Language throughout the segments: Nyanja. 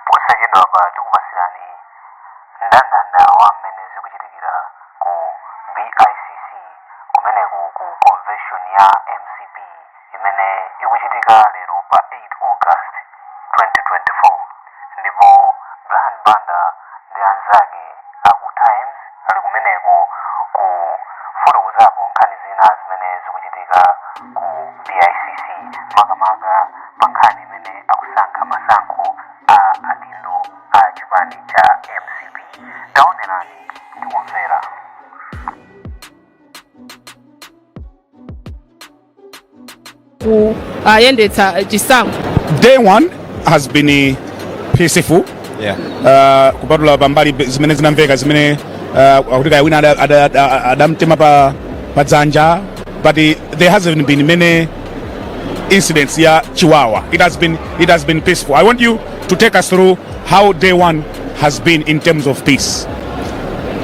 Posachedwapa tikupatsirani ndandanda wa mmene zikuchitikira ku BICC kumeneko ku konveshoni ya mcp imene ikuchitika lero pa 8 August 2024 ndipo Brian Banda ndi anzake a ku Times ali kumeneko kufotokozapo nkhani zina zimene zikuchitika ku bicc makamaka pa nkhani imene akusankha masankho a adindo a chipani cha mcp taonerani ndikumvera akuyendetsa eh, chisankho day one has been eh, peaceful Yeah. uh, kupatula pambali pe- zimene zinamveka zimene uh, akuti kaya wina ada- ada- ada- adamtema pa, pa dzanja but eh, there hasn't been many incidents ya chiwawa it has been it has been peaceful i want you to take us through how day one has been in terms of peace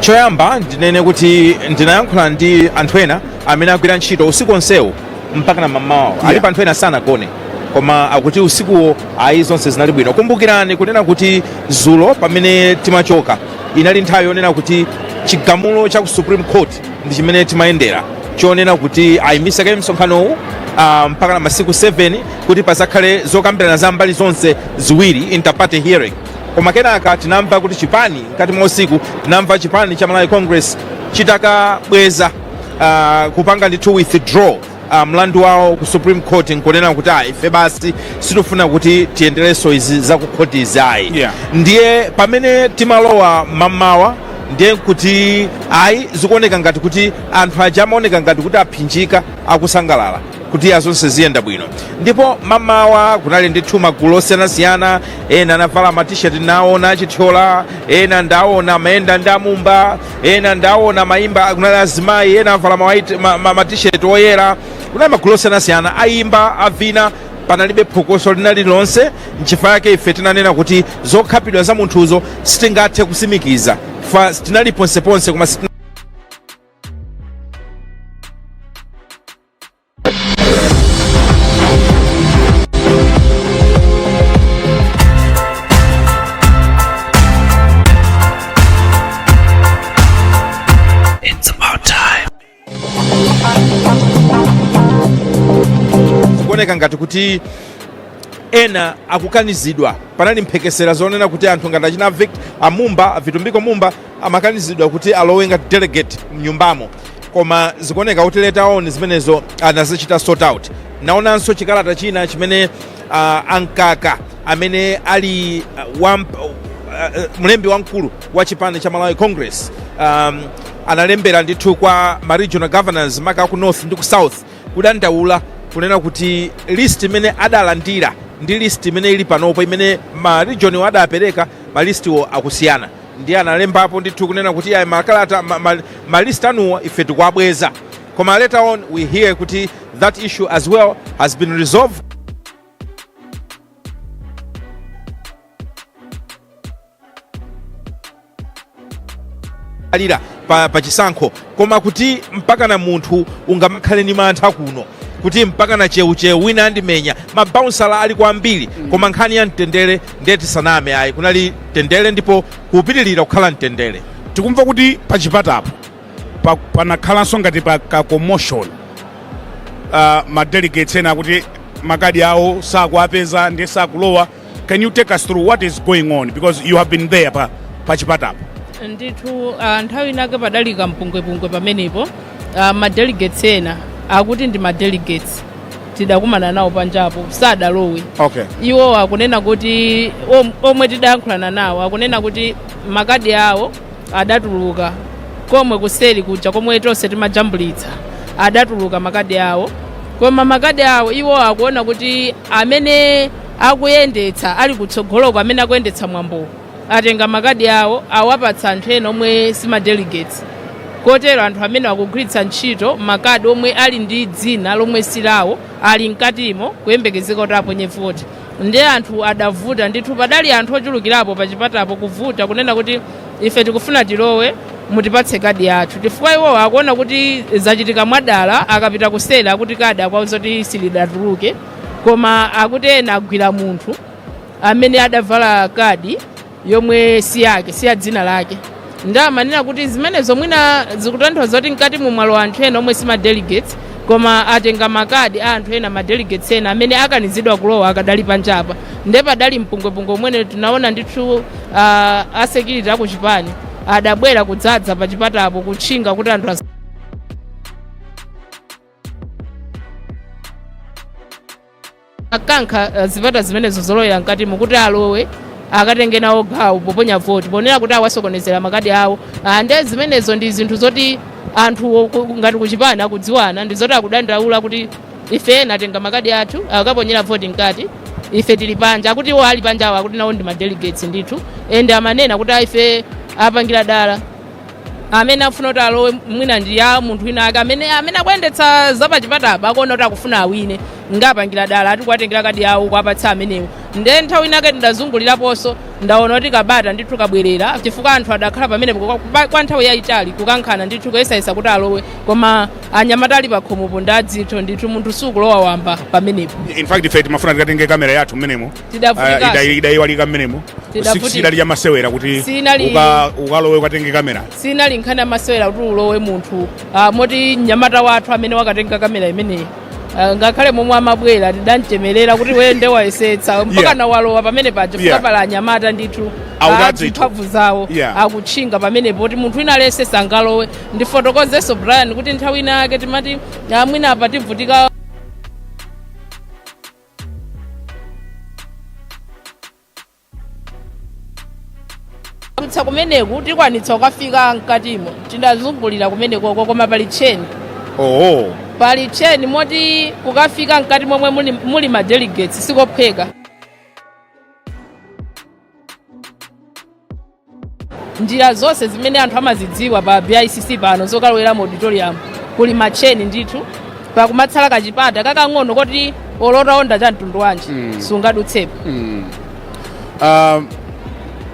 choyamba ndinene kuti ndinayankhula ndi anthu ena amene agwira ntchito usiku onsewu mpaka na mamawa yeah. alipo anthu ena sanagone koma akuti usikuwo ayi zonse zinali bwino kumbukirani kunena kuti zulo pamene timachoka inali nthawi yonena kuti chigamulo cha ku supreme court ndi chimene timayendera chonena kuti ayimitse kaye msonkhanowu ah, mpaka na masiku 7 kuti pazakhale zokambirana za mbali zonse ziwiri interparty hearing koma kenaka tinamva kuti chipani mkati mwa usiku tinamva chipani cha malawi congress chitakabweza uh, kupanga ndithu withdraw uh, mlandu wawo ku supreme court nkunena kuti ayi ife basi sitifuna kuti tiyenderenso izi za ku court izi ayi Yeah. ndiye pamene timalowa mamawa ndiye kuti ayi zikuoneka ngati kuti anthu aja amaoneka ngati kuti aphinjika akusangalala kuti ayi zonse ziyenda bwino ndipo mamawa kunali ndithu magulu osiyanasiyana ena anavala matisheti ndaona a Chithyola ena ndaona amayenda ndi a Mumba ena ndaona amaimba kunali azimayi ena avala mawaiti- ma- ma- matisheti oyera kunali magulu osiyanasiyana ayimba avina panalibe phokoso lina lililonse nchifukwa yake ife tinanena kuti zokhapidwa za munthuzo sitingathe kusimikiza chifukwa tinali ponseponse koma sitina kuoneka ngati kuti ena akukanizidwa panali mphekesera zonena kuti anthu ngati achina vict a Mumba a Vitumbiko Mumba amakanizidwa kuti alowe ngati delegate mnyumbamo koma zikuoneka kuti later on zimenezo anazichita sort out naonanso chikalata china chimene uh, ankaka amene ali uh, wa, uh, mlembi wamkulu wa chipani cha malawi congress um, analembera ndithu kwa ma regional governors maka ku north ndi ku south kudandaula kunena kuti list imene adalandira ndi list imene ili panopo imene ma region-wo adapereka ma listiwo akusiyana ndiye analembapo ndithu kunena kuti ayi makalata ma, ma, ma list anuwa ife tikuwabweza koma later on we hear kuti that issue as well has been resolved alira pa, pa chisankho koma kuti mpaka munthu ungamakhale ndi mantha kuno kuti mpakana cheucheu wina andimenya mabaunsala ali kwambiri koma nkhani ya mtendere ndiye tisaname ayi kunali mtendere ndipo kukupitirira kukhala mtendere tikumva kuti pachipatapo pa- panakhalanso ngati pa ka commotion uh, madelegates ena akuti makadi awo sakuapeza ndiye sakulowa can you take us through what is going on because you have been there pa, pa chipatapo ndithu ah, nthawi inake padali kampungwepungwe pamenepo ah, madelegates ena akuti ndi madelegates tidakumana nawo panjapo sadalowe okay iwo akunena kuti om- omwe tidayankhulana nawo akunena kuti makadi awo adatuluka komwe kuseri kuja komwe tonse timajambulitsa adatuluka makadi awo koma makadi awo iwo akuona kuti amene akuyendetsa ali kutsogoloko amene akuyendetsa mwambowo atenga makadi awo awapatsa anthu ena omwe sima delegates kotero anthu amene akugwiritsa ntchito makadi omwe ali ndi dzina lomwe silawo ali mkatimo kuyembekezeka kuti aponye voti nde anthu adavuta ndithu padali anthu ochulukirapo pa chipatapo kuvuta kunena kuti ife tikufuna tilowe mutipatse kadi yathu chifukwa iwowo akuona kuti zachitika mwadala akapita kuseri akuti kadi akuwauza kuti silidatuluke koma akuti ena agwira munthu amene adavala kadi yomwe si yake si ya dzina lake nde amanena kuti zimenezo mwina zikutanthauza kuti mkatimu mwalowa anthu ena omwe si ma delegates koma atenga makadi a anthu ena ma delegates ena amene akanizidwa kulowa akadali panjapa nde padali mpungwepungwe omwe tinaona ndithu uh, a security akuchipani adabwera kudzadza pachipatapo kutchinga kuti anthu as- akankha eh, zipata zimenezo zolowera mkatimo kuti alowe akatenge nawo gawo poponya voti ponena kuti awasokonezera makadi awo Ah, nde zimenezo ndi zinthu zoti anthu ku- ngati kuchipani akudziwana ndi zoti akudandaula kuti ife ena atenga makadi athu akaponyera voti mkati ife tili panja akuti iwo ali panja awo akuti nawo ndi madelegates ndithu ende amanena kuti "Ah, ife apangira dala amene akufuna kuti alowe mwina ndi ya munthu wina ake amene amene akuyendetsa zapachipatapa akuona kuti akufuna awine ngapangira dala ati kuwatengera makadi awo kuwapatsa amenewo nde nthawi inake ndidazunguliraponso ndaona kuti ka bata ndithu kabwerera chifukwa anthu adakhala pamenepo kwa- kwa- kwa nthawi yayitali kukankhana ndithu kuyesayesa kuti alowe koma anyamata ali pakhomopo ndi adzitho ndithu munthu sukulowa wamba pamenepo in fact ife timafuna tikatenge kamera yathu mmenemo Tidavutika. Ah, idai- idaiwalika mmenemo Tidavutika. sidali ya masewera kuti Sinali- uka- ukalowe ukatenge kamera sinali nkhani yamasewera kuti ulowe munthu ah, moti mnyamata wathu amene wakatenga kamera imeneyi ah, ngakhale momwe amabwera tidamchemerera kuti wende wayesetsa mpaka Yeah. nawalowa pamene paja Yeah. chifukwa pali anyamata ndithu Adzitho ndithu. mphamvu zawo Yeah. akutchinga pamenepo kuti munthu wina aliyense sangalowe ndifotokozenso brian kuti nthawi ina yake timati ah, mwina apa tivutika kutsa kumeneku tikwanitsa kukafika mkatimo tidazungulira kumeneko koma pali tcheni oho pali tcheni moti kukafika mkati momwe muli, muli ma delegates sikophweka njira zonse zimene anthu amazidziwa pa bicc pano zokalowera mu auditorium kuli matcheni ndithu pakumatsala kampata kakang'ono koti olo utaonda cha mtundu wanji Mm. sungadutsepo Mm. Ah,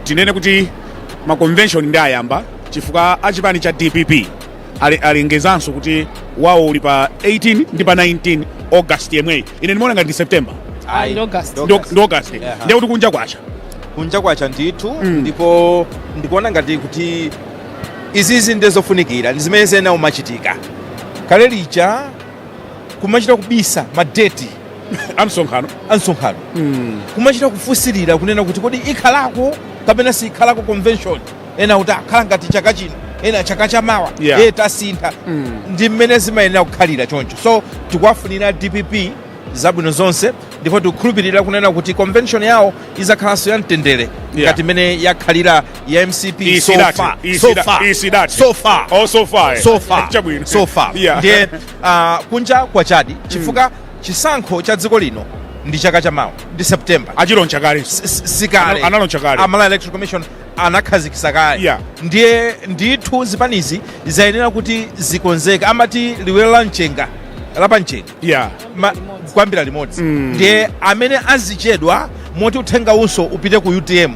tinene kuti ma convention nde ayamba chifukwa achipani cha dpp ale- alengezanso kuti wawo uli pa 18 ndi pa 19 august yemweyu ine ndimaona ngati ndi september Ayi, ndi August. Ndi- ndi august Yeah. ndiye kuti kunja kwacha kunja kwacha ndithu ndipo ndikuona ngati kuti izizi ndi zofunikira ndi zimene zina zimachitika kale lija kumachita kubisa madeti amsonkhano a msonkhano kumachita kufunsilira kunena kuti kodi ikhalako kapena sikhalako convention ena akuti akhala ngati chaka chino ena chaka chamawa Yeah. e tasintha ndi mmene zimayenera kukhalira choncho so tikuwafunira dpp zabwino zonse ndipo tikukhulupirira kunena kuti convention yawo izakhalanso ya mtendere ngati mmene yakhalira ya mcp so Isidati, far, so isida- far, isidati. so far. Oh, so far, eh. So far. Chabwino. So far. Yeah. ndiye ah, kunja kwachadi chifukwa chisankho cha dziko lino ndi chaka chamawa ndi september achiloncha kale sikale Analo- analoncha kale. a malawi electoral commission anakhazikisa kale ndiye ndithu zipanizi zayenera kuti zikonzeke amati liwiro la mchenga lapa mchenga kuyambira limodzi ndiye amene azichedwa moti uthenga unso upite ku utm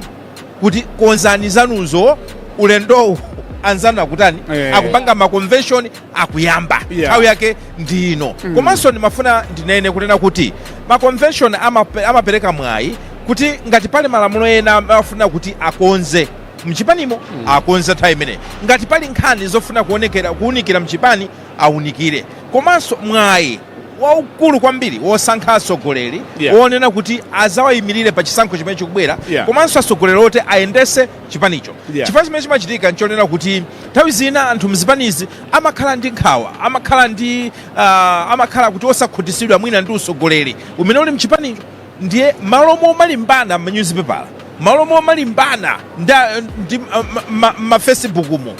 kuti konzani zanuzo ulendowu anzanu akutani akupanga maconvention akuyamba nthawi yake ndi ino komanso ndimafuna ndinene kunena kuti ma convention amape- amapereka mwayi kuti ngati pali malamulo ena amafuna kuti akonze mchipanimo akonze nthawi imeneyi ngati pali nkhani zofuna kuunikira mchipani aunikire komanso mwayi waukulu kwambiri wosankha atsogoleri wonena kuti azawayimirire pa chisankho chimene chikubwera komanso atsogoleri oti ayendese chipanicho yeah. Chifukwa chimene chimachitika nchonena kuti nthawi zina anthu mzipanizi amakhala ndi nkhawa, amakhala ndi uh, amakhala kuti osakhutisidwa mwina ndi usogoleri umene uli mchipanicho, ndiye malo momalimbana m'manyuzipepala, malo momalimbana ndi m'mafacebook ma, ma, ma, mu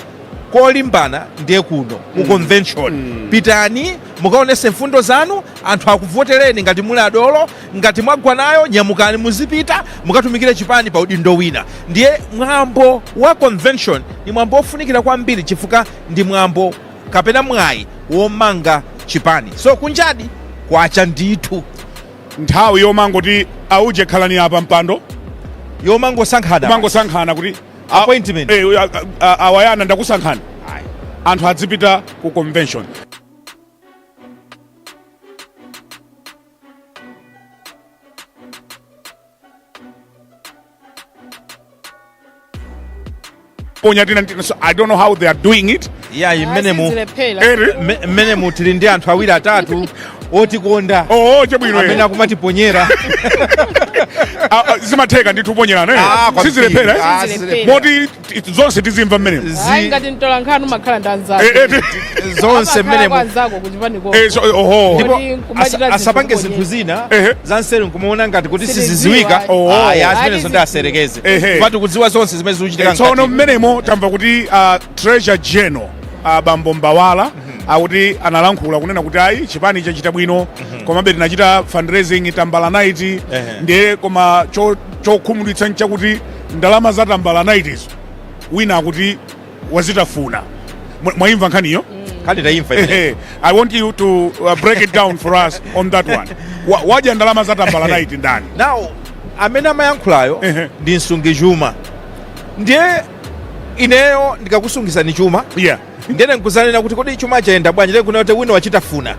kolimbana ndiye kuno ku convention pitani mukaonese mfundo zanu anthu akuvotereni ngati muli adolo Ngati mwagwa nayo nyamukani muzipita mukatumikire chipani pa udindo wina. Ndiye mwambo wa convention ndi mwambo ofunikira kwambiri chifukwa ndi mwambo kapena mwayi womanga chipani. So kunjadi kwacha ndithu. Nthawi yomangoti auje khalani apa mpando Yomangosankhana. kumangosankhana kuti a- Appointment. eh, a- a- auyana ndakusankhani Ayi. anthu adzipita ku convention ponya tina tina so i don't know how they are doing it ya Sizilephera. mmene mu tili ndi anthu awiri atatu otikonda oo chabwino amene akumatiponyera Ah, ah, zimatheka ndithu kuponyerana kwambiri. sizilephera sizilephera. moti Ti- zonse tizimva mmenemo Zi- ayi ngati mtola nkhani umakhala ndi anzako Eh, eh, ti- zonse Amakhala mmenemo kwa anzako kuchipaniko. eh, so- oho Ndipo Kodi nkumachita asa- zinthu asapange kodi? zinthu zina Ehe. za nseri nkumaona ngati kuti Sitiziwa. siziziwika Oh. aya Ati zimenezo ndi ziziwa. aserekeze Ehe. koma tikudziwa zonse zimene zikuchitika tsono mkati. mmenemo tamva kuti uh, treasurer general uh, bambo mbawala akuti analankhula kunena kuti ayi chipani chachita bwino komabe tinachita fundraising tambala night ndiye koma cho- chokhumudwitsa nchakuti Ndalama za tambala night-zo wina akuti wazitafuna. Mwaimva nkhaniyo? Kale taimva. I want you to uh, break it down for us on that one. Wadya ndalama za tambala night ndani? Now amene amayankhulayo ndi msungichuma ndiye ineyo ndikakusungisani chuma yeah. ndene nkuzanena kuti kodi chuma chayenda bwanji nkunena kuti wina wachitafuna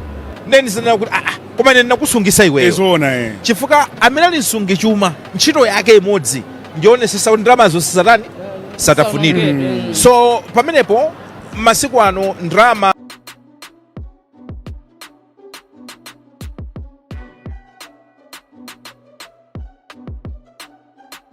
ndiye ndizanena kuti aa ah, ah, Koma ine ndinakusungisa Eh, iweyo zoona eh. chifukwa amene ali msungi chuma ntchito yake imodzi ndionesesa kuti ndalamazo sizatani zisatafunidwe so pamenepo masiku ano ndalama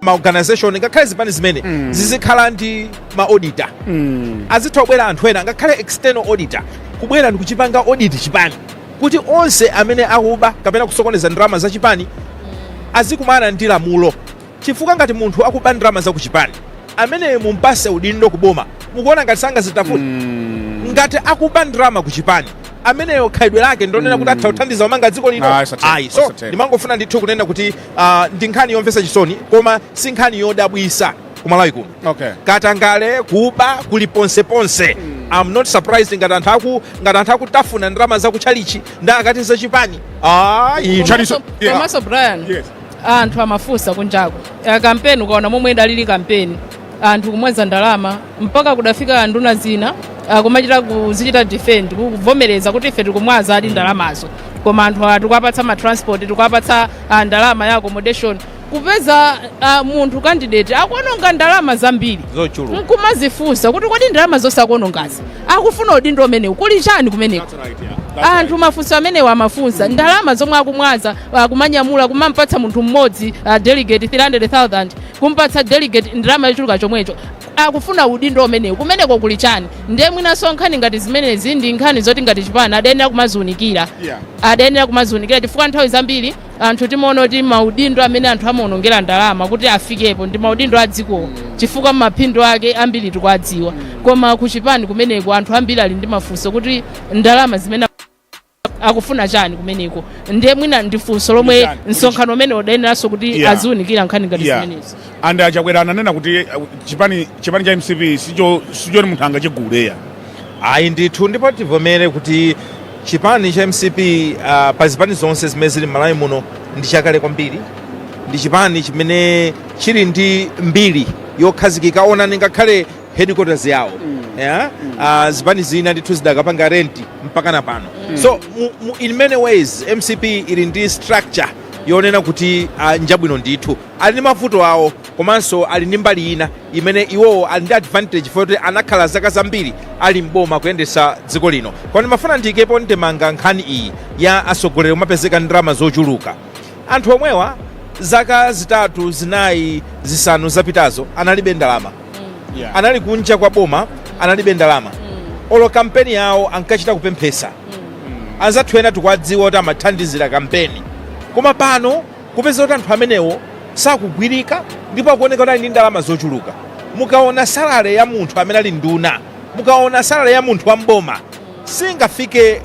ma organization ngakhale zipani zimene mm. zizikhala ndi ma auditor mm. azitha kubwera anthu ena ngakhale external auditor kubwera ndi kuchipanga audit chipani kuti onse amene akuba kapena kusokoneza ndalama za chipani mm. azikumana ndi lamulo chifukwa ngati munthu akuba ndalama za kuchipani amene mumpase udindo kuboma mukuona ngati sakazitafuna mm. ngati akuba ndalama kuchipani ameneyo khalidwe lake ndonena kuti atha mm. kuthandiza kumanga dziko lino ayi so ndimangofuna ndithu kunena kuti Uh, ndi nkhani yomvetsa chisoni koma si nkhani yodabwisa kumalawi kuno okay. katangale kuba kuli ponse ponse mm. I'm not surprised ngati anthu aku ngati anthu akutafuna ndalama za kuchalichi nda akati za chipani ah iyi chaliso komanso Brian yes. anthu amafunsa kunjako kampeni ukaona momwe idalili kampeni anthu kumwaza ndalama mpaka kudafika nduna zina ah, kumachita kuzichita defend kuvomereza kuti ife tikumwaza eedi ndalamazo koma anthu awa tikuwapatsa ma transport tikuwapatsa ah, ndalama ya accommodation kupeza ah, munthu candidate akuononga ndalama zambiri zochuluka nkumazifunsa kuti kodi ndalama zonse akuonongazi akufuna udindo umenewu kuli chani kumeneko anthu mafunso amenewa amafunsa ndalama zomwe akumwaza akumanyamula kumampatsa munthu mmodzi ah, delegate 300000 kumpatsa delegate ndalama yochuluka chomwecho akufuna udindo umenewu kumeneko kuli chani ndiye mwinanso nkhani ngati zimenezi ndi nkhani zoti ngati chipani adayenera kumaziunikira Yeah. adayenera kumaziunikira chifukwa nthawi zambiri anthu timaona kuti maudindo amene anthu amaonongera ndalama kuti afikepo ndi maudindo a dzikowo chifukwa maphindu ake ambiri tikuwadziwa koma ku chipani kumeneko anthu ambiri ali ndi mafunso kuti ndalama zimene akufuna chani kumeneko ndiye mwina ndi funso lomwe Chani? Kuti msonkhano umene udayeneranso kuti Yeah. aziunikira nkhani ngati Yeah. zimenezi and achakwera ananena kuti uh, chipani chipani cha mcp sicho sichoti munthu angachigule ayi ndithu ndipo tivomere kuti chipani cha mcp uh, pa zipani zonse zimene zili m'malawi muno ndi chakale kwambiri ndi chipani chimene chili ndi mbiri yokhazikika onani ngakhale headquarters yawo yeah? uh, zipani zina ndithu zidakapanga renti mpaka na pano so mu, mu, in many ways mcp ili ndi structure yonena kuti uh, njabwino ndithu ali ndi mavuto awo komanso ali ndi mbali ina imene iwowo ali ndi advantage foti anakhala zaka zambiri ali mboma kuyendesa dziko lino koma ndimafuna ndiyikepo ndemanga nkhani iyi ya atsogoleri omapezeka ndi ndalama zochuluka anthu omwewa zaka zitatu zinayi zisanu zapitazo analibe ndalama anali kunja kwa boma analibe ndalama olo kampeni yawo ankachita kupemphesa anzathu ena tikuwadziwa kuti amathandizira kampeni koma pano kupeza kuti anthu amenewo sakugwirika ndipo akuoneka kuti ali ndi ndalama zochuluka mukaona salale ya munthu amene ali nduna mukaona salale ya munthu wa mboma singafike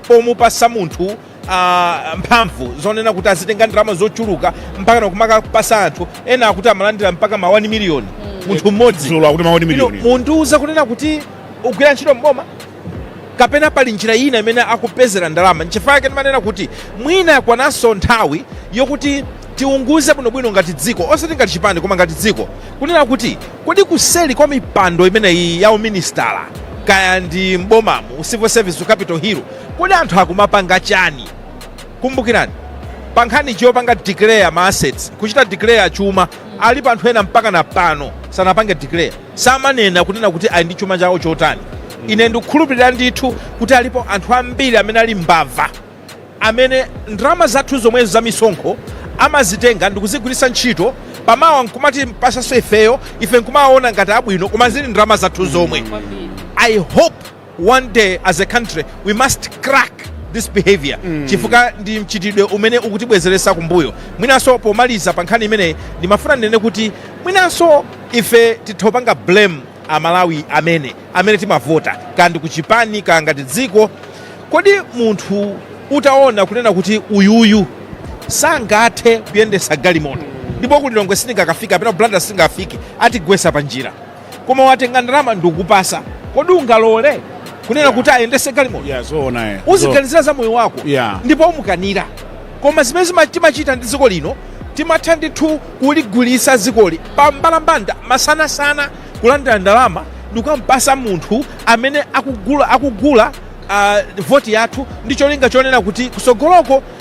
pomupatsa munthu uh, mphamvu zonena kuti azitenga ndalama zochuluka mpaka nakumakapasa anthu ena akuti amalandira mpaka ma 1 miliyoni mm. munthu mmodzi mundiuza kunena kuti ugwira ntchito mboma kapena pali njira ina imene akupezera ndalama nchifukwa chake ndimanena kuti mwina yakwananso nthawi yokuti tiunguze bwinobwino ngati dziko osati ngati chipani koma ngati dziko kunena kuti kodi kuseli kwa mipando imeneyi ya uminisitala kaya ndi mbomamu civil service ku capital hill Kodi anthu akumapanga chani? Kumbukirani, pa nkhani yopanga declare ma assets, kuchita declare chuma, alipo anthu ena mpakana pano sanapange declare, samanena kunena kuti ali ndi chuma chawo chotani. Ine ndikukhulupirira ndithu kuti alipo anthu ambiri amene ali mbava, amene ndalama zathu zomwezo za misonkho amazitenga ndikuzigwiritsa ntchito, pamawa nkumatipasanso ifeyo, ife nkumawaona ngati abwino koma zili ndalama zathu zomwe. I hope. One day as a country we must crack this behaviour chifukwa ndi mchitidwe umene ukutibwezeresa kumbuyo. Mwinanso pomaliza pa nkhani imeneyi ndimafuna ndinene kuti mwinanso ife titha kupanga blame a Malawi amene amene timavota kaya ndi kuchipani kaya ngati dziko. Kodi munthu utaona kunena kuti uyuyu sangathe kuyendesa galimoto ndipo ku Lilongwe sindingakafike kapena ku Blantyre sindingafike atigwesa pa njira. koma watenga ndalama ndikukupasa kodi ungalole kunena yeah. kuti ayendese galimoto yeah, so uziganizira za moyo wako yeah. ndipo umukanira koma zimene timachita ndi dziko lino timatha ndithu kuligulisa dzikoli pa mbalambanda masanasana kulandira ndalama ndikumampasa munthu amene akugula voti yathu ndi cholinga chonena kuti kutsogoloko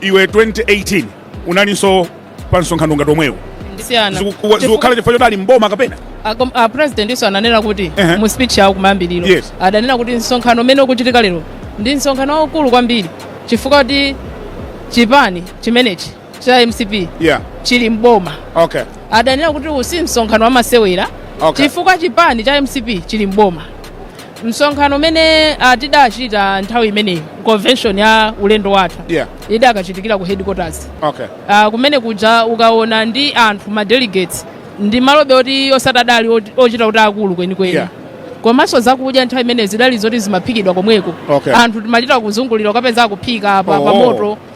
iwe 2018 unalinso pa msonkhano ngati omwewu kusiyana kukukhala chifukwa choti ali mboma kapena a presidentinso ananena kuti Ehe. mu speech yawo kumayambiriro Yes. adanena kuti msonkhano umene ukuchitika lero ndi msonkhano waukulu kwambiri chifukwa kuti chipani chimenechi cha mcp yeah chili mboma okay adanena kuti uwu si msonkhano wamasewera Okay. chifukwa chipani cha mcp chili mboma msonkhano umene ah, tidachita nthawi imeneyi convention ya ulendo watha Yeah. idakachitikira ku headquarters Okay. Ah, kumene kuja ukaona ndi anthu ma delegates ndi malo be oti osati adali ochita kuti akulu kwenikweni Yeah. komanso zakudya nthawi imeneyo zidali zoti zimaphikidwa komweko Okay. anthu timachita kuzungulira ukapeza akuphika pa, pa Oh. moto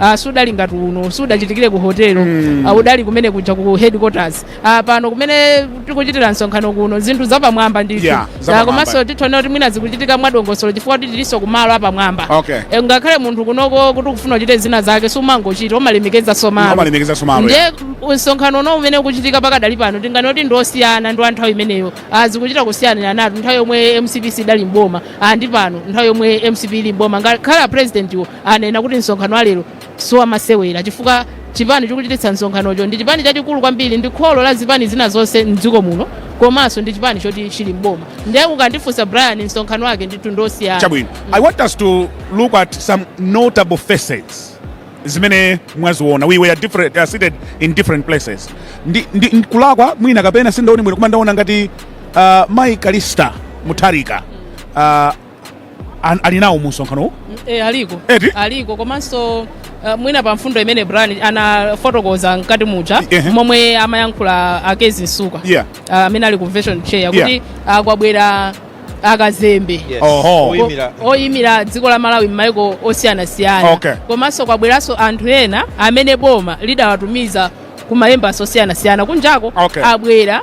Ah, sudali ngati uno sudachitikire ku hotelo Mm. ah, udali kumene kuja ku headquarters ah, pano kumene tikuchitira msonkhano kuno zinthu zapamwamba ndithu Yeah, zapamwamba. Ah, komanso titha kunena kuti mwina zikuchitika mwadongosolo chifukwa kuti tilinso kumalo apamwamba Okay. Eh, ngakhale munthu kunoko kuti ukufuna uchite zina zake sumangochita umalemekezanso malo amalemekezanso malo ndiye msonkhano uno umene ukuchitika pakadali pano tinganene kuti ndiosiyana ndi wa nthawi imeneyo Ah, zikuchita kusiyaniranatu nthawi yomwe mcp sidali mboma Ah, ndi pano nthawi yomwe mcp ili mboma ngakhale a president wo anena kuti msonkhano wa lero siwamasewera chifukwa chipani chikuchititsa msonkhanocho ndi chipani chachikulu kwambiri ndi kholo la zipani zina zonse mdziko muno komanso ndi chipani choti chili mboma ndiye ukandifunsa brian msonkhano wake ndithu ndosiyana chabwino i want us to look at some notable faces zimene mwaziona we were different, uh, seated in different places ndi, ndi, ndikulakwa mwina kapena sindaone bwino koma ndaona ngati uh, mai callista mutharika uh, an- ali nawo mu msonkhanowu e, aliko Eti? aliko komanso uh, mwina pa mfundo imene brian anafotokoza mkati muja Ehe. momwe amayankhula a kezzie msukwa Yeah. uh, amene ali convention chair Yeah. kuti uh, kwabwera akazembe Yes. Oho. Oyimira. O- oyimira dziko la malawi m'maiko osiyanasiyana Okay. komanso kwabweranso anthu ena amene boma lidawatumiza ku maembassy osiyanasiyana kunjako Okay. abwera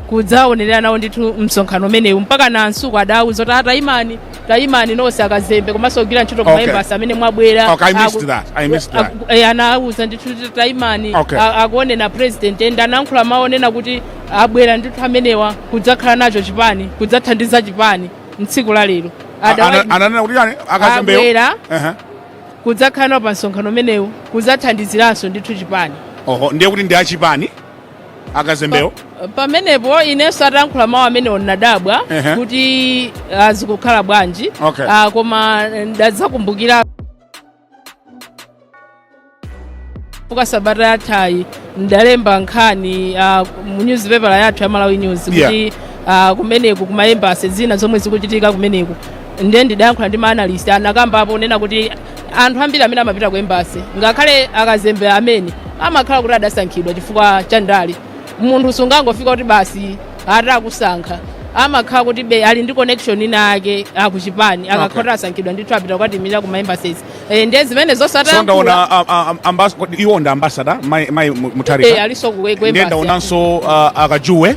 kudzaonerera nawo ndithu msonkhano umenewu mpakana a msukwa adawuza kuti a tayimani tayimani nonse akazembe komanso ogwira ntchito ku Okay. maembasi amene mwabwera Okay, I missed Aku- that. I missed that. aku- eh, anawuza ndithu kuti tayimani Okay. a- akuoneni a president and anankhula mawu onena kuti abwera ndithu amenewa kudzakhala nacho chipani kudzathandiza chipani mtsiku la lero Adawa- Ana- ananena kuti chani akazembewo abwera Ehe. Kudzakhala nawo pa msonkhano umenewu kudzathandiziranso ndithu chipani. Oho, ndiye kuti ndi achipani akazembewo? Pa- pamenepo inenso atankhula mawu amenewo ndinadabwa Ehe. kuti ah, zikukhala bwanji Okay. Ah, koma ndadzakumbukira fukwa sabata yathayi ndalemba nkhani ah, mu newspaper yathu ya malawi news Yeah. kuti ah, kumeneku kumayembasi zina zomwe zikuchitika kumeneku nde ndidayankhula ndi maanalist anakambapo kunena kuti anthu ambiri amene amapita ku embasi ngakhale akazembe amene amakhala kuti adasankhidwa chifukwa cha ndale munthu sungangofika kuti basi atakusankha amakhala kuti be ali ndi connection inayake akuchipani akakhala kuti asankhidwa ndithu apita kukatiimira ku maembases e, nde zimene so zosatayankhula ndaona a- a- a- ambas- kodi iwo ndi ambasada mai mai Mu- mutharika alinso ku- ku nde embassy. ndaonanso uh, akajuwe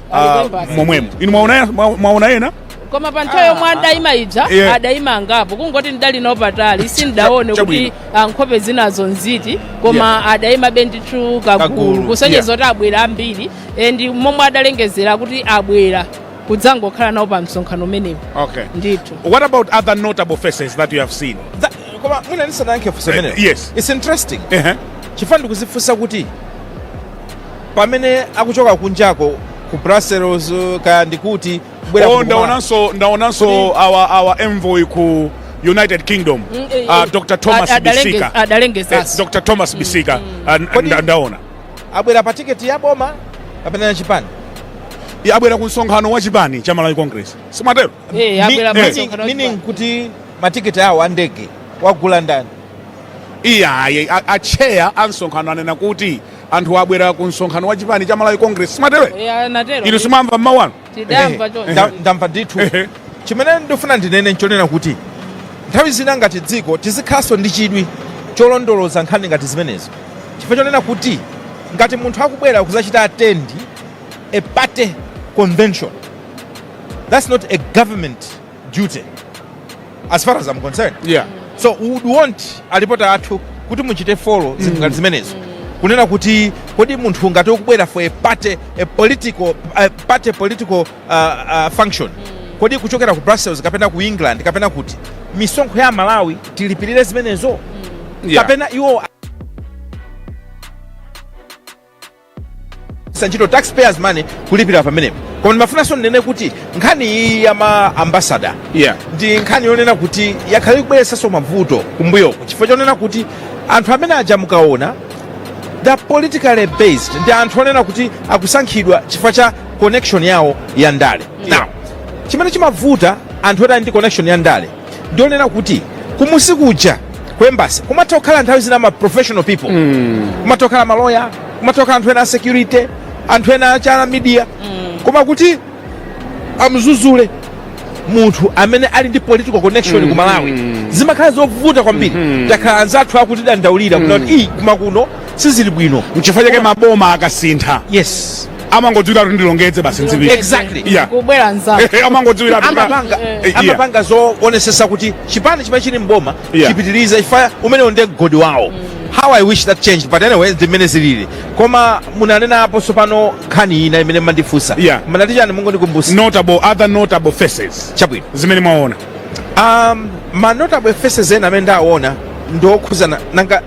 ah, Alibe mbasi. momwemo inu mwaona mwa- mwaona ena koma pa nthawi yomwe adayima ija Yeah. adayima angapo kungoti ndidali nawo patali sindidaone kuti Chabwino. ah, nkhope zinazo nziti koma adayimabe ndithu Kagulu, kagulu kusonyeza yeah. kuti abwera ambiri and momwe adalengezera kuti abwera kudzangokhala nawo pa msonkhano umenewu okay ndithu what about other notable faces that you have seen That- koma mwina ndisanayankhe funso Eh, limenelo. yes. its interesting Ehe. chifukwa ndikuzifunsa kuti pamene akuchoka kunjako ku brussels kaya ndikuti kubwera oh, kuno kuma- ndaonanso ndaonanso Kodi- our our envoy ku united kingdom Mm, eh, ah, eh, dr thomas ad- adalenge- bisika Eh, adalengezanso dr thomas bisika ah, n- Kodi- nda- ndaona abwera pa tiketi ya boma kapena cha chipani Iye abwera ku msonkhano wa chipani cha malawi congress simatero Eh, Mi- abwera meaning- msonkhano wa meaning chipani. kuti matiketi awo a ndege wagula ndani iyaye acheya a msonkhano anena kuti Anthu abwera ku msonkhano wa chipani cha Malawi Congress simatero? Eya natero. Inu simamva mmawa uno? Tidamva choncho. Nda- ndamva ndithu Ehe. chimene ndifuna ndinene nchonena kuti nthawi zina ngati dziko tizikhalanso ndi chidwi cholondoloza nkhani ngati zimenezo chifukwa chonena kuti ngati munthu akubwera kuzachita attend a party convention that's not a government duty as far as I'm concerned yeah. so we would want alipota athu kuti muchite follow mm. zinthu ngati zimenezo kunena kuti kodi munthu ngati ukubwera for a party a political a party political uh, uh, function kodi kuchokera ku brussels kapena ku england kapena kuti misonkho ya malawi tilipirire zimenezo Yeah. kapena iwo sanchito taxpayers money kulipira pamenepo koma ndimafunanso ndinene kuti nkhani iyi ya ma ambasada Yeah. ndi nkhani yonena kuti yakhala ikubweretsanso mavuto kumbuyoku chifukwa chonena kuti anthu amene aja mukaona they are politically based ndi anthu onena kuti akusankhidwa chifukwa cha connection yawo ya ndale now chimene chimavuta anthu oti ali ndi connection ya ndale ndionena kuti kumusi kuja ku embassy kumatha kukhala nthawi zina ma professional people kumatha kukhala maloya kumatha kukhala anthu ena a security anthu ena achana media koma kuti amuzuzule munthu amene ali ndi political connection ku malawi zimakhala zovuta kwambiri takhala anzathu akutidandaulira kuti iyi kumakuno sizili bwino mchifukwa chake maboma akasintha yes amangodziwira kuti ndilongedze basi nzipita Exactly. yeah kubwera nzake amangodziwira kuti- amapanga Eh, yeah. amapanga zoonetsetsa kuti chipani chimene chili mboma Yeah. chipitirize chifukwa umenewo ndiye mgodi wawo how i wish that changed but anyway zimene zilili koma munanenapo tsopano nkhani ina imene mmandifunsa Yeah. mnati chani mungondikumbutsa notable other notable faces chabwino zimene mwaona um, ma notable faces ena amene ndaona ndiokhudzana nanga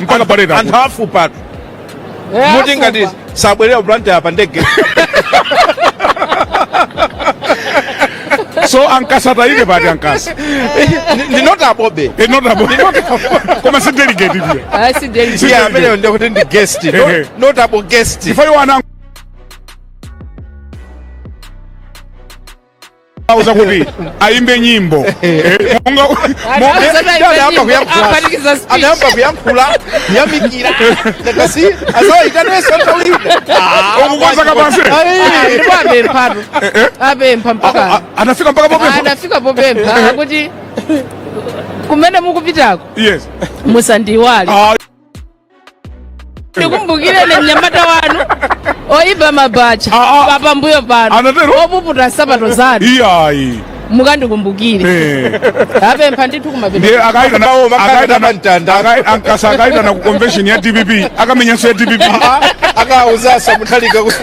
mpaka pale anthu takuti afupa atu Eh, muti ngati afupa. sabwerera ku blantyre pa ndege so ankasata ine pati ankasa Ndi- ndi notablebe notable koma si delegate ndiye Ah, si deli. Si- iye ameneyo ndiye kuti ndi guest Ehe. not- notable guest chifukwa iwo ana auza kuti ayimbe nyimbo Eh, monga- monga- Anauza kuti ayimbe anayamba nyimbo, kuyankhula. apanikiza speech. anayamba kuyankhula yamikira ndakasi azawaitanenso nthawi Ukukonza kapansi. ndipo apemphatu apempha A- mpaka a- anafika mpaka popempha anafika popempha akuti kumene mukupitako yes musandiiwale Ah, ndikumbukireni mnyamata wanu oyipa mabacha Ah, ah. papambuyo pano Anatero? opuputa nsapato zanu iyayi mukandikumbukire Eh. apempha ndithu kumapita ndiye akaita na- Nawo bakhala akaita na- namantanda. akai- ankasa akaitana ku convention ya dpp akamenyanso ya dpp akawuzanso mutharika kuti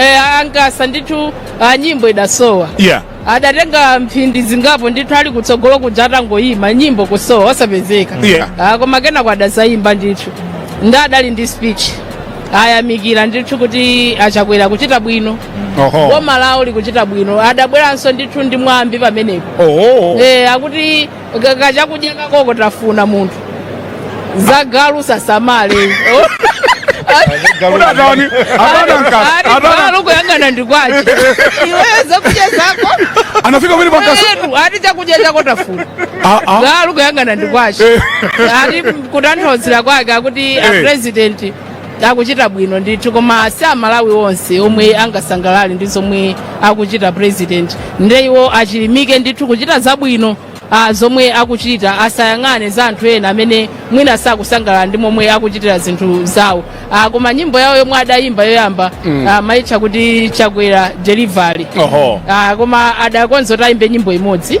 Eh, ankasa ndithu ah, nyimbo idasowa yeah adatenga mphindi zingapo ndithu ali kutsogolo kuja atangoyima nyimbo kusowa osapezeka Yeah. Ah, koma kenako adazayimba ndithu ndi adali ndi speech ayamikira ndithu kuti achakwera akuchita bwino oho boma lawo likuchita bwino adabweranso ndithu ndi mwambi pamenepo oh eh, akuti ka- kachakudya kakoko tafuna munthu za galu sasamale Unatani? Hapana nkasa. Hapana. galu kuyang'ana ndi kwache iweyo zakudya zako Anafika kweli kwa nkasa. Eetu, ati chakudya chako tafuna Ah ah. galu kuyang'ana ndi kwache ati kutanthauzira kwake akuti a Eh. president akuchita bwino ndithu koma si amalawi onse omwe angasangalale ndi zomwe akuchita president nde iwo achilimike ndithu kuchita zabwino ah, zomwe akuchita asayang'ane za anthu ena amene mwina sakusangalala ndi momwe akuchitira zinthu zawo ah, koma nyimbo yawo yomwe adayimba yoyamba mm. ah, amaitcha kuti chakwera delivery Oho. ah, koma adakonza kuti ayimbe nyimbo imodzi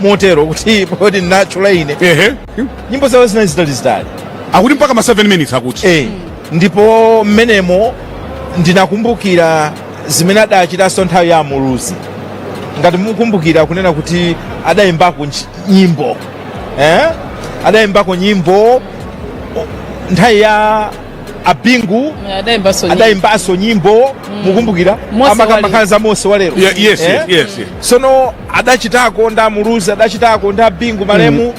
motero kuti poti ndinatchula ine ehe nyimbo zawo zinali zitali zitali akuti mpaka ma 7 minutes akuti eh, ndipo mmenemo ndinakumbukira zimene adachitanso nthawi ya amuluzi ngati mukumbukira kunena kuti adayimbako nchi- nyimbo eh? adayimbako nyimbo o- nthawi ya a bingu adayimbanso nyimbo. adayimbanso nyimbo mukumbukira Mose amakamba wali- nkhani za mose walero Ye- yes, Eh? yes, yes, yes. sono adachitako nda muluzi adachitako nda bingu malemu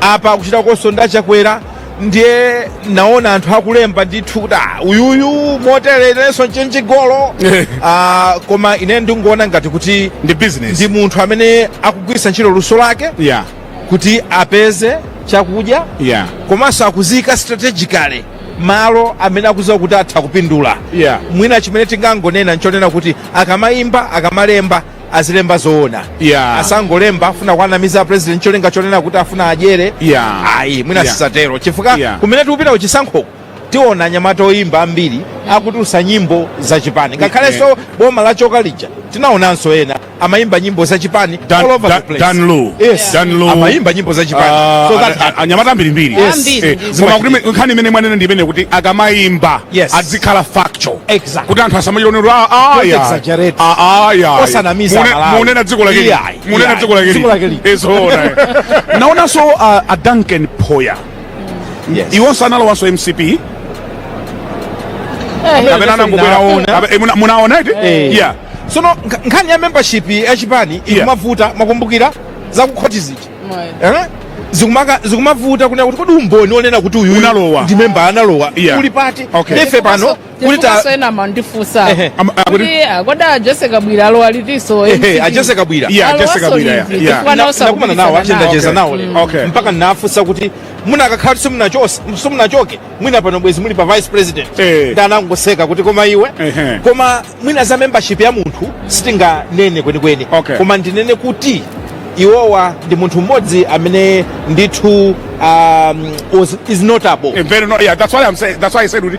apa akuchitakonso nda chakwera ndiye naona anthu akulemba ndithu kuti "Ah, uyuyu motere inenso nchenjigolo Ah, koma ine ndingoona ngati kuti ndi business ndi munthu amene akugwiritsa ntchito luso lake yeah kuti apeze chakudya Yeah. komanso akudziyika strategically malo amene akudziwa kuti atha kupindula Yeah. mwina chimene tingangonena nchonena kuti akamayimba akamalemba azilemba zoona Yeah. asangolemba afuna kuwanamiza president cholinga chonena kuti afuna adyere Yeah. ayi mwina Yeah. zisatero chifukwa Yeah. kumene tikupita kuchisankhoko tiona anyamata oyimba ambiri akutulutsa nyimbo za chipani ngakhalenso boma lachoka lija tinaonanso ena amayimba nyimbo za chipani Dan- all over Dan- the place. Dan Lu. Yes. Dan Lu. amayimba nyimbo za chipani Ah, so that ana- anyamata ambirimbiri Yes. Ambiri, Eh, ambiri. koma kuti me- nkhani imene mwanena ndi imene kuti akamayimba Yes. azikhala factual Exactly. kuti anthu asamachionero Don't exaggerate. Osanamiza Malawi. munena dziko lake Iyayi, munena iyayi. dziko lake Dziko lake lili. lili. Nzoona, eh. naonanso ah, a duncan phoya Yes. iwonso analowanso mcp kapena anangobwera Naona. Kape- eh, muna- munaona iti Eh. yeah sono nkha- nkhani ya membership ya chipani Yeah. ikumavuta mukukumbukira zakukhoti zija Eh? Zikumaka- zikumavuta kunena kuti kodi umboni onena kuti uyu Unalowa. ndi memba analowa Yeah. uli pati Okay. ife pano kuti ta Chifukwa ena amandifunsa Ehe, am- ah, kuti- kuti ah, kodi a Jesse Kabwira alowa litinso ehe a Jesse Kabwira Yeah, Alowa Jesse Kabwira, yeah, solidly, yeah. chifukwa Na- naosa nakumana nawo kupikisana nawo. ndachezacheza nawo Okay. lero Okay. mpaka ndinafunsa kuti munakakhala kuti simunachoke simunachoke mwina pano bwezi muli pa vice president Eh. ndi anangoseka kuti koma iwe Ehe. koma mwina za membership ya munthu sitinganene kwenikweni Okay. koma ndinene kuti iwowa ndi munthu mmodzi amene ndithu um, was, is notable Eh, very no- yeah, that's why I'm saying, that's why I said kuti